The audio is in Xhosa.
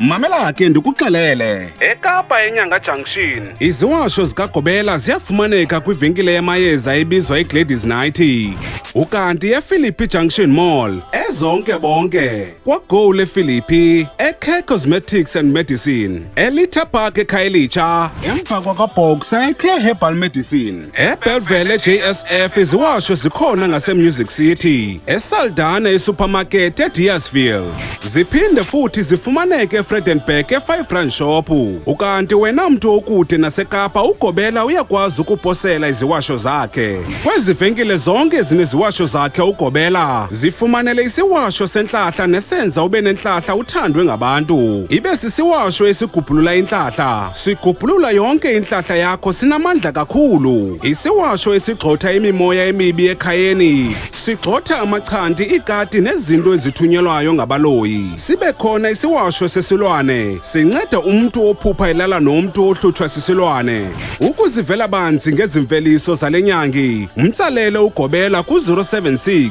Mamela ke ndikuxelele. EKapa eNyanga Junction. Iziwasho zikaGobela ziyafumaneka kwivenkile yamayeza ebizwa iGladys Nighty. Ukanti ePhilippi Junction Mall. Ezonke bonke. KwaGo lePhilippi, eCare Cosmetics and Medicine, eLitha Park eKhayelitsha, emva kwakwaBoxer eCare Herbal Medicine. ebhevele jsf iziwasho zikhona ngasemusic city esaldana esupermarket ediasville ziphinde futhi zifumaneke efredenburg e-five rand shop ukanti wena mntu okude nasekapa ugobela uyakwazi ukuposela iziwasho zakhe kwezi venkile zonke ezineziwasho zakhe ugobela zifumanele isiwasho sentlahla nesenza ube nentlahla uthandwe ngabantu ibe sisiwasho esigubhulula intlahla Sigubhulula yonke intlahla yakho sinamandla kakhulu. Isiwasho esigxotha imimoya emibi ekhayeni. Sigxotha amachanti, iikati nezinto ezithunyelwayo ngabaloyi. Sibe khona isiwasho sesilwane. Sinceda umntu ophupha elala nomntu ohlutshwa sisilwane. Ukuzivela banzi ngezimveliso zale nyangi. Mtsalele ugobela ku-076